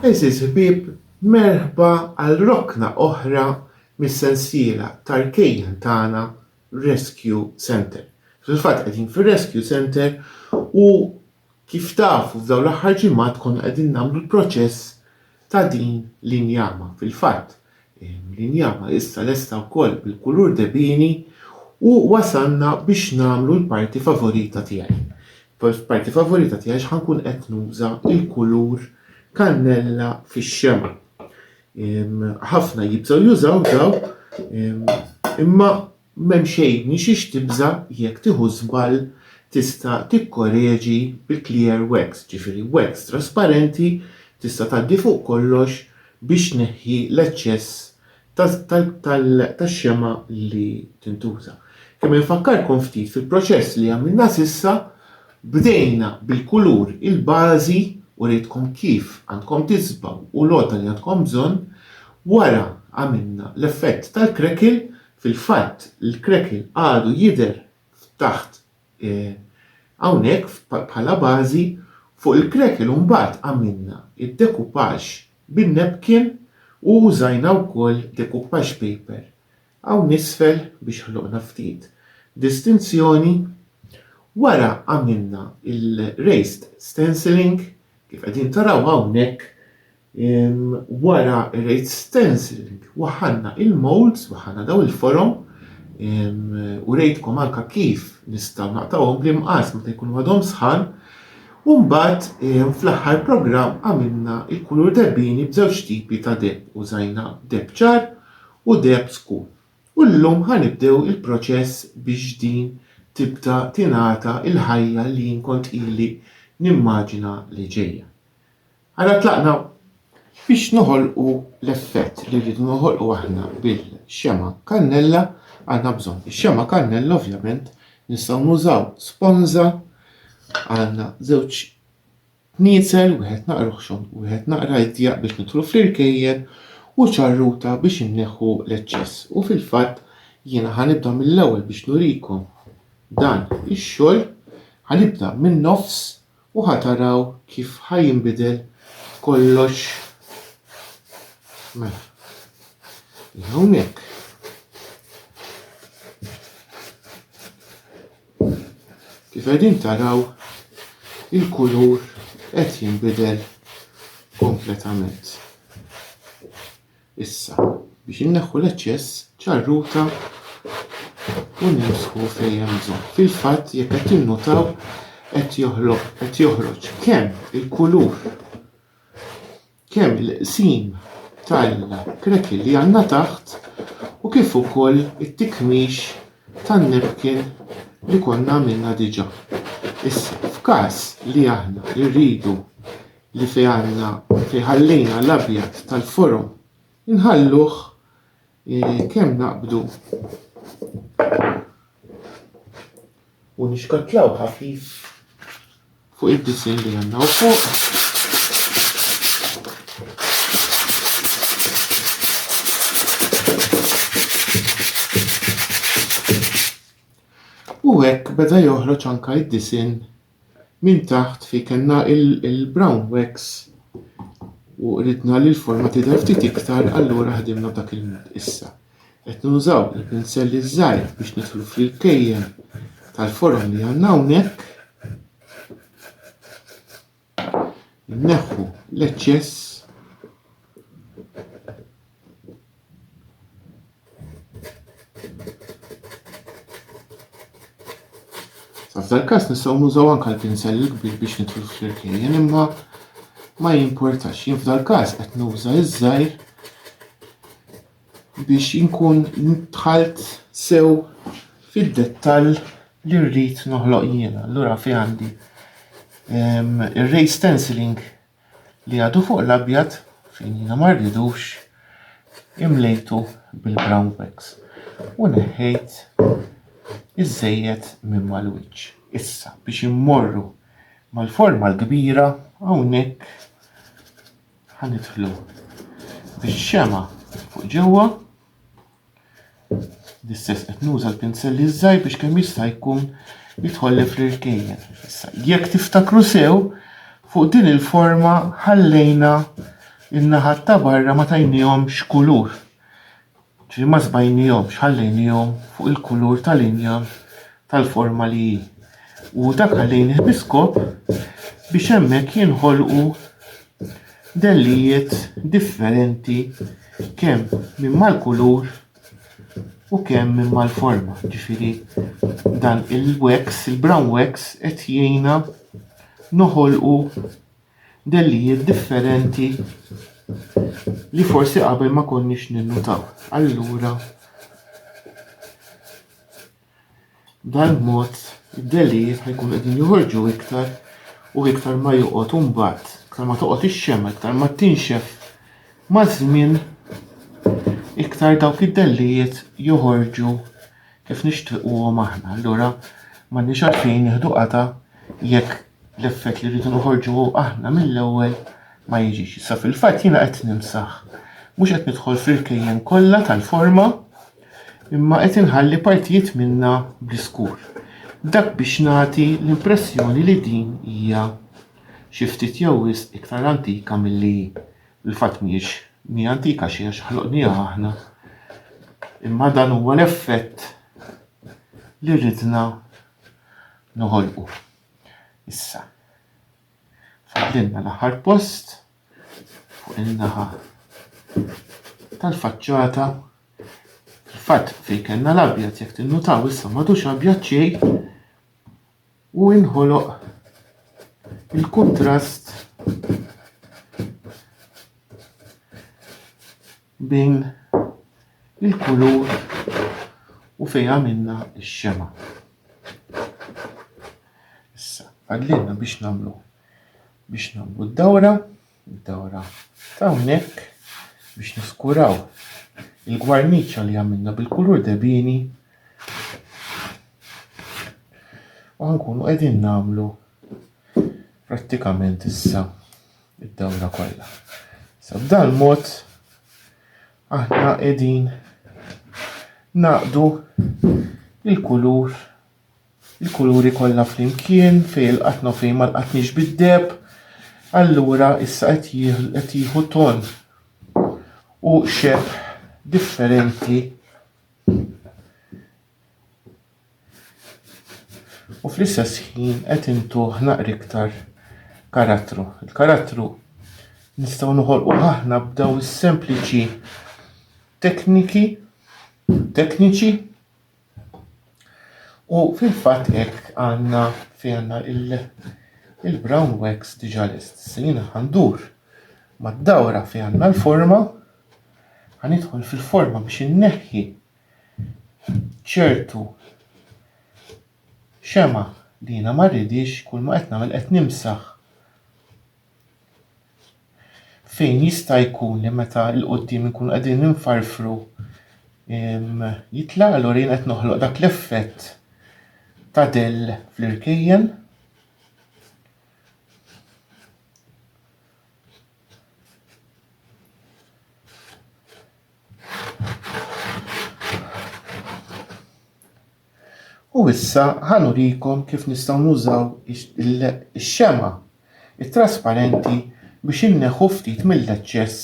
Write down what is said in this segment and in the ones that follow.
Għeżież ħbieb, merħba għal rokna oħra mis-sensiela tal-kejjen tagħna Rescue Centre. Fil-fatt qegħdin fir-Rescue Centre u Kif tafu f'dawn l-aħħar ġimgħat konna qegħdin nagħmlu l-proċess ta' din l-injama. Fil-fatt, l-injama issa lesta wkoll bil-kulur debini u wasalna biex nagħmlu l-parti favorita tiegħi. Parti favorita tiegħi għax ħankun qed nuża l-kulur kannella fix-xemgħa. Ħafna jibżgħu jużaw daw imma M'hemm xejn minn xiex tibża' jekk tieħu żball tista' tikkoreġi bi clear wax, ġifieri wax trasparenti tista' tgħaddi fuq kollox biex tneħħi l-eċċess tax-xemgħa li tintuża. Kemm infakkarkom ftit fil-proċess li għamilna s'issa, bdejna bil-kulur il-bażi, urietkom kif għandkom tiżbgħu u l-għodda li għandkom bżonn, wara għamilna l-effett tal-crackle Fil-fatt, l-cracking għadu jidher f'taħt hawnhekk bħala bażi, fuq il-cracking imbagħad għamilna d-decoupage bin-napkin u użajna wkoll decoupage paper hawn isfel biex ħloqna ftit distinzjoni. Wara għamilna l-raised stenciling kif qegħdin taraw hawnhekk. Wara r-rate stenciling waħħalna il-moulds, waħħalna daw il-forom u rejtkom anke kif nistgħu naqtgħuhom bl-imqas meta jkunu għadhom sħan. U mbagħad fl-aħħar programm għamilna l-kulur debbini b'żewġ tipi ta' debb, użajna debb ċar u debb skur. U llum ħa nibdew il-proċess biex din tibda tingħata l-ħajja li jien kont ili nimmaġina li ġejja. Ara tlaqna biex noħolqu l-effett li rridu noħolqu aħna bil-xema kannella għandna bżonn. Ix-xema kannella ovvjament nistgħu nużaw sponża għandna żewġ niezel wieħed naqra xon u wieħed naqra idja biex nitru fl-irkejjen u ċarruta biex inneħħu l-eċċess. U fil-fatt jiena ħanibda mill-ewwel biex nurikom dan ix-xogħol ħanibda minn nofs U ħa taraw kif ħa jinbidel kollox. Mela. Hija hawnhekk. Kif qegħdin taraw il-kulur qed jinbidel kompletament. Issa, biex inneħħu l-eċċess, ċarruta u nimsħu fejn hemm bżonn. Fil-fatt, jekk qed tinnutaw, qed joħloq qed joħroġ kemm il-kulur, kemm il-qsim tal-crackle li għandna taħt u kif ukoll it-tikmix tan-napkin li konna għamilna diġà. Issa, f'każ li aħna rridu li fihalna u fi ħallina l-abjad tal-forom inħalluh kemm naqbdu u nixkattlawh ħafif fuq id-disinn li għandna u fuq u hekk beda joħroġ anke id-disinn Minn taħt fi kellna il-brown wax u ridna li l-forma tidher ftit iktar allura ħdimna b'dak il-mod. Issa qed nużaw il-pinsell iż-żgħir biex nidħlu fl-kejjen tal-forom li għandna hawnhekk. Neħħu l-eċċess F'dan każ nistgħu nużaw anke l-pinsell il-kbir biex nitlu fl-irkejjen imma ma jimportax. Jien f'dan każ qed nuża iż-żgħir biex inkun dħalt sew fid-dettall li rrid noħloq jiena. Allura fi għandi ir-ray stenciling li għadu fuq l-abjad fejn jiena ma rridux imlejtu bil-brown wax u neħħejt iż-żejjed minn mal-wiċċ. Issa biex immorru mal-forma l-kbira hawnhekk ħanidħlu bix-xemgħa fuq ġewwa L-istess qed nuża l-pinselli żgħir biex kemm jista' jkun jidħolli fl-irkejjen. Issa, jekk tiftakru sew, fuq din il-forma ħallejna in-naħat ta' barra ma tajniehomx kulur. Ġi ma żbajniehomx, ħallejniehom fuq il-kulur tal-injam tal-forma li hi. U dak ħallejnih biskop biex hemmhekk jinħolqu dellijiet differenti kemm minn mal-kulur u kemm minn mal-forma. Ġifieri dan il-wax, il-brown wax qed jgħinna noħolqu dellijiet differenti li forsi qabel ma konniex ninnutaw. Allura B'dan mod, id-dehlijiet ħa jkunu qegħdin joħorġu iktar u iktar ma joqgħod u mbagħad iktar ma toqgħod ix-xemgħa, iktar ma tinxef maż-żmien iktar dawk id-dehlijiet joħorġu kif nixtiequhom aħna. Allura m'għandniex għalfejn nieħdu qata' jekk l-effett li rridu noħorġu aħna mill-ewwel ma jiġix. Issa fil-fatt jiena qed nimsaħ. Mhux qed nidħol fil-kejjen kollha tal-forma, imma qed inħalli partijiet minnha bl-iskur. Dak biex nagħti l-impressjoni li din hija xi ftit jew wisq iktar antika milli hi. Fil-fatt mhijiex mi antika xejn għax ħloqnieha aħna. Imma dan huwa l-effett li ridna noħolqu. Issa, fadlinna l-aħħar post. fuq in-naħa tal-faċċata. Fil-fatt fejn kellna l-abjad jekk tinnutaw issa m'għadux abjad xejn u inħoloq il-kuntrast bejn il-kulur u fejn għamilna x-xema. Issa, għadlilna biex nagħmlu biex nagħmlu d-dawra, d-dawra ta' hawnhekk biex niskuraw il-gwarniċċa li għamilna bil-kulur debini u ħankunu qegħdin nagħmlu prattikament issa id-dawra kollha. Sa b'dan mod aħna qegħdin naqdu il-kulur Il-kuluri kollha flimkien fejn il-qatna u fejn ma lqatniex bid-deheb, allura issa qed qed jieħu ton u xebħ differenti. U fl-istess ħin qed intuh naqri iktar karattru. Il-karattru nistgħu noħolqu aħna b'daw is-sempliċi tekniki tekniċi U fil-fatt hekk għandna fejn għandna il-brown wax diġà lest. Se jiena ħandur mad-dawra fejn għandna l-forma, ħanidħol fil-forma biex inneħħi ċertu xema li jiena ma rridix kull ma qed nagħmel qed nimsaħ fejn jista' jkun li meta l quddiem inkunu qegħdin infarfru jitlaq allura jien qed noħloq dak l-effett ta' del fl-irkejjen. U issa ħa nurikom kif nistgħu nużaw ix-xemgħa t-trasparenti biex inneħħu ftit mill-eċċess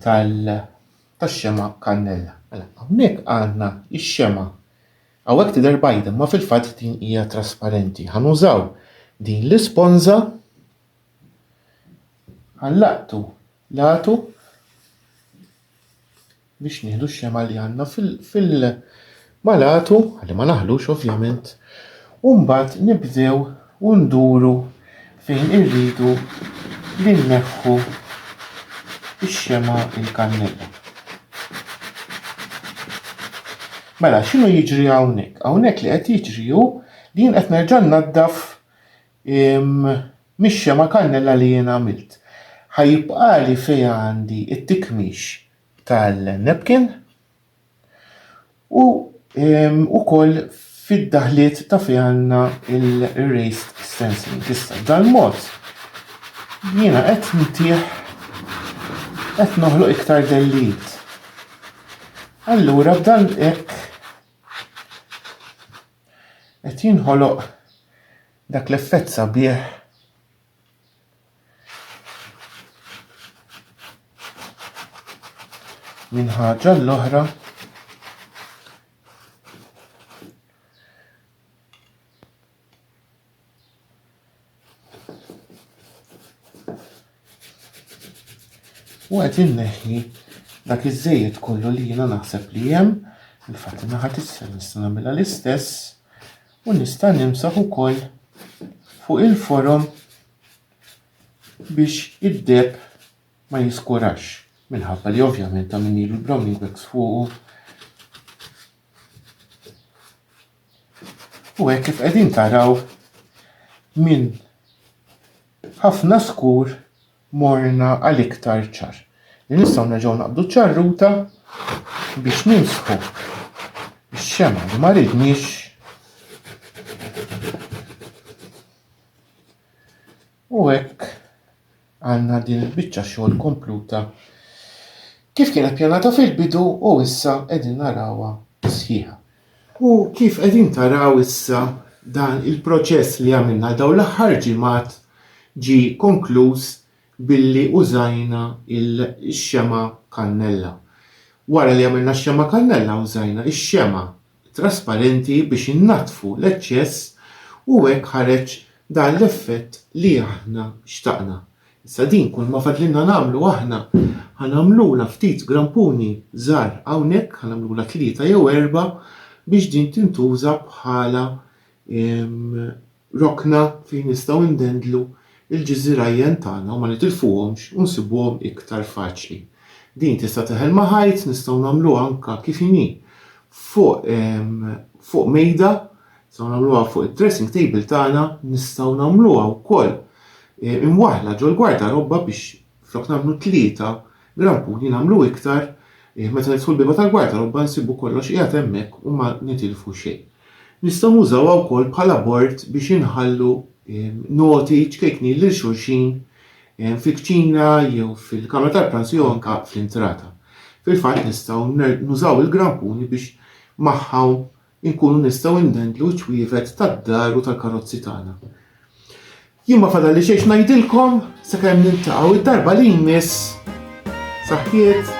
tax-xemgħa kannella. Mela hawnhekk għandna x-xemgħa. Hawnhekk tidher bajda imma fil-fatt din hija trasparenti. Ħa nużaw din l-isponża, ħa nlaqqtu L-għatu biex nieħdu x-xema li għandna fil mal-għatu, għalli ma naħlux ovvjament, u mbagħad nibdew u nduru fejn irridu li nneħħu x-xema il-kannella. Mela, x'inhu jiġri hawnhekk? Hawnhekk li qed jiġri hu li jien qed nerġa' naddaf Imm, mixja ma' kannella li jien għamilt. Ħa jibqali fejn għandi t-tikmix tal-napkin u imm, ukoll fid-daħliet ta' fejn għandna l-raised stencilling. Issa, b'dal-mod jiena qed ntih, qed noħloq iktar dellijiet. Allura b'dan hekk. qed jinħoloq dak l-effett sabiħ minn ħaġa l-oħra U qed inneħħi dak iż-żejjed kollu li jiena naħseb li hemm, infatti ma ħadd issa nista' nagħmilha l-istess u nista' nimsaħ ukoll fuq il-forom biex id-deb ma jiskurax minħabba li ovvjament ta' minni l-browning wax fuqu U hekk kif qegħdin taraw minn ħafna skur morna għal iktar ċar. Li nistgħu nerġgħu naqbdu ċarruta biex nimsħu x-xema li ma ridniex u hekk Għandna din il-biċċa xogħol kompluta kif kienet pjanata fil-bidu u issa qegħdin narawha sħiħa. U kif qegħdin taraw issa dan il-proċess li għamilna għal dawn l-aħħar ġimgħat ġie konkluż billi użajna x-xemgħa kannella. Wara li għamilna x-xemgħa kannella użajna x-xemgħa trasparenti biex innaddfu l-eċċess u hekk ħareġ dan l-effett li aħna xtaqna. Issa din kulma fadlilna nagħmlu aħna ħa nagħmlulha ftit grampuni żgħar hawnhekk, ħa nagħmlulha tlieta jew erbgħa biex din tintuża bħala rokna fejn nistgħu ndendlu l-ġiżirajjen tagħna u ma nitilfuhomx u nsibuhom iktar faċli. Din tista' teħel ma' ħajt, nistgħu nagħmluha anke kif inhi fuq fuq mejda, nistgħu nagħmluha fuq id-dressing table tagħna, nistgħu nagħmluha wkoll imwaħħla ġol-gwardarobba biex Flok nagħmlu tlieta grappuni nagħmlu iktar, meta nidħlu l-bieba tal-gwar tal-qubba nsibu kollox qiegħed hemmhekk u ma nitilfu xejn. Nistgħu nużawha wkoll bħala bord biex inħallu noti ċkejknin lil xulxin fil-kċina jew fil-kamra tal-pranzu jew anke fl-intrata. Fil-fatt nistgħu nużaw il-grampuni biex magħhom inkunu nistgħu ndendlu ċ-ċwievet tad-dar u tal-karozzi tagħna. Jien ma fadalli xejn ngħidilkom sakemm niltaqgħu id-darba li jmiss. Saħħiet!